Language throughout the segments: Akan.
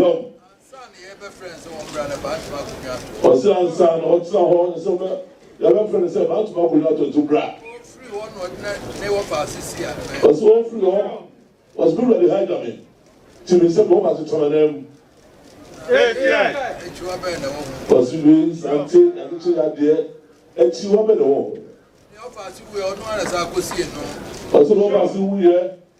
Yom. Ɔsɛ ansa na ɔtena hɔ ne sɛ ɔbɛ yɛbɛfrɛ no sɛ baatumi akonnwa ato nso bra. Ɔsɛ ɔfiri hɔ ɔsɛ bi wurade ha gya me ti me sɛ bɔba so tena nan mu. Ɔsɛ bi sante adekye yadeɛ akyi hɔ bɛ na wɔ ho. Ɔsɛ bɔba so wuyɛ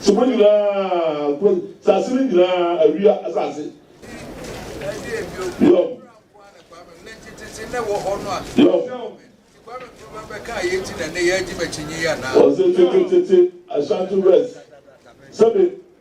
So mo nyinaa ko saase no nyinaa awia asase. Yom. Yom. Ɔsɛ tete tete Ashanti West sɛbi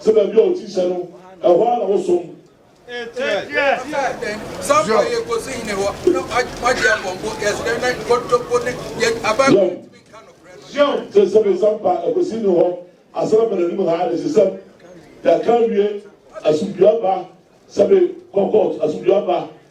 Sɛ baabi a ɔkyi hyɛ no, ɛhɔ ara na wosom. Yom, te sɛ me sampa ɛkɔsi ne hɔ, asɛm ba n'anim ha ne sesɛm, yɛaka awie, asomdwoeɛ aba, sɛ me kɔ kɔɔt, asomdwoeɛ aba.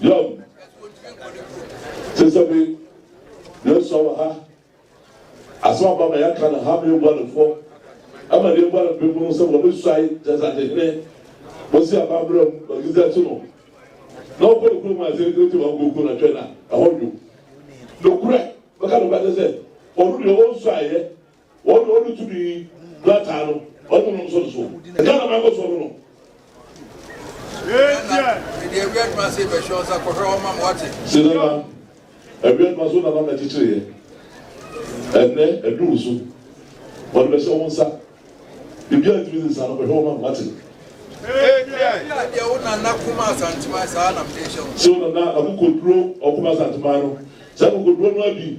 Young, Sesabi, Yosua wɔ ha. Asɛm aba ma yɛaka no ha ma yɛbua no fɔ. Ɛma deɛ ɛbua no bem no sɛ wɔbɛsuae Gyasate hene Mosi Abammerɛ mu Melkizedek so no. Na ɔkɔ ne kurom a sɛ ɛdɛ ti ma ɔkɔku na twɛn a ɛhɔ dwo. Nokorɛ, mɛka nokwagye sɛ ɔno deɛ ɔnsuaeɛ Wɔn de wɔde tumi krataa no wɔn nom so so. Ɛka na mɛkɔ so no. Ghana ɛde awia adwuma se bɛhwɛ ɔsa kɔhwɛ wɔn mam wate. Sinana awia adwuma so nana na kyekyere yɛ. Ɛnɛ ɛduru so wɔde bɛhyɛ wɔn nsa. Ebi a ntumi nsa no kɔhwɛ wɔn mam wate. Deɛ wo nana kuma asantuma saa nam de hyɛ wɔn. Sɛ wo nana akokoduro ɔkuma asantuma no saa akokoduro no abi.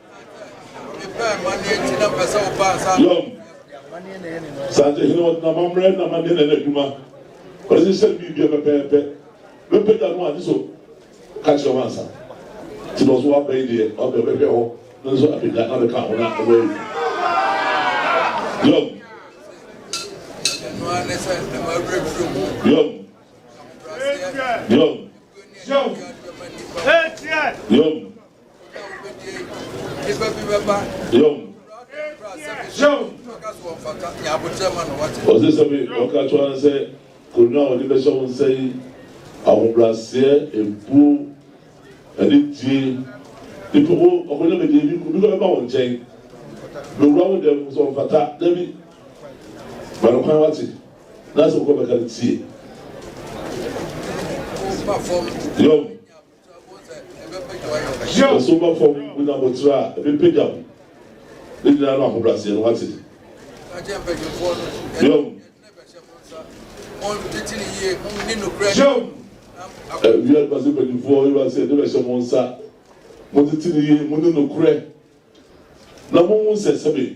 Yom, Asante hene ɔde n'amammerɛ na amanneɛ na ɛyɛ n'adwuma. Ɔhyehyɛ biribiara pɛpɛɛpɛ. Mɛpagya no ade so ka kyerɛ wo ansa. Nti na ɔso waba yi deɛ, ɔde ɔbɛhwɛ hɔ no nso apagya na abɛka ho na ɛbɛyɛ adwuma. Yom, Yom, Yom, Yom. Ɔse sɛ me ɔka kyewa no sɛ konwa a ɔde bɛhyɛ wo nsa yi ahobraseɛ, ebuo, anidie, nipa wo ɔkɔnya me deɛ bi kɔ bɛba wo nkyɛn bɛwura wo dɛm sɛ ɔmfata dabi ma no kwan wate na sɛ wokɔ bɛka no tie yom. Nso ba fam mu na motra a ɛbɛpagya mo. Ne nyinaa no ahobrɛaseɛ no, moate? Yom. Yom. Ɛ, wiase base mpanyinfoɔ, Awurade sɛ, ɛde bɛhyɛ mo nsa. Montete no yie, monni nokorɛ, na monhu sɛ sɛbe.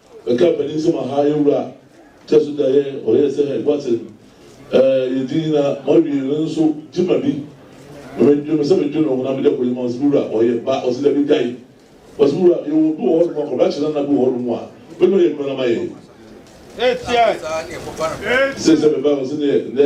Mɛka m'ani nsɛm aha yɛ wura kyɛ so da yɛ ɔyɛ sɛ hɛ bɔtsen ɛɛ yɛ di nyina ma wie no nso gye ma bi ma mɛ dwe me sɛ me dwe no ho na me dɛ kɔyi ma ɔsi me wura ɔyɛ ba ɔsi dɛ bi gyae ɔsi me wura yɛ wɔ bi wɔ hɔ nom a kɔbra kyena na bi wɔ hɔ nom a bɛ dɔ yɛ adwuma na ma yɛ. Sɛ sɛ me ba ɔsi ne yɛ ndɛ.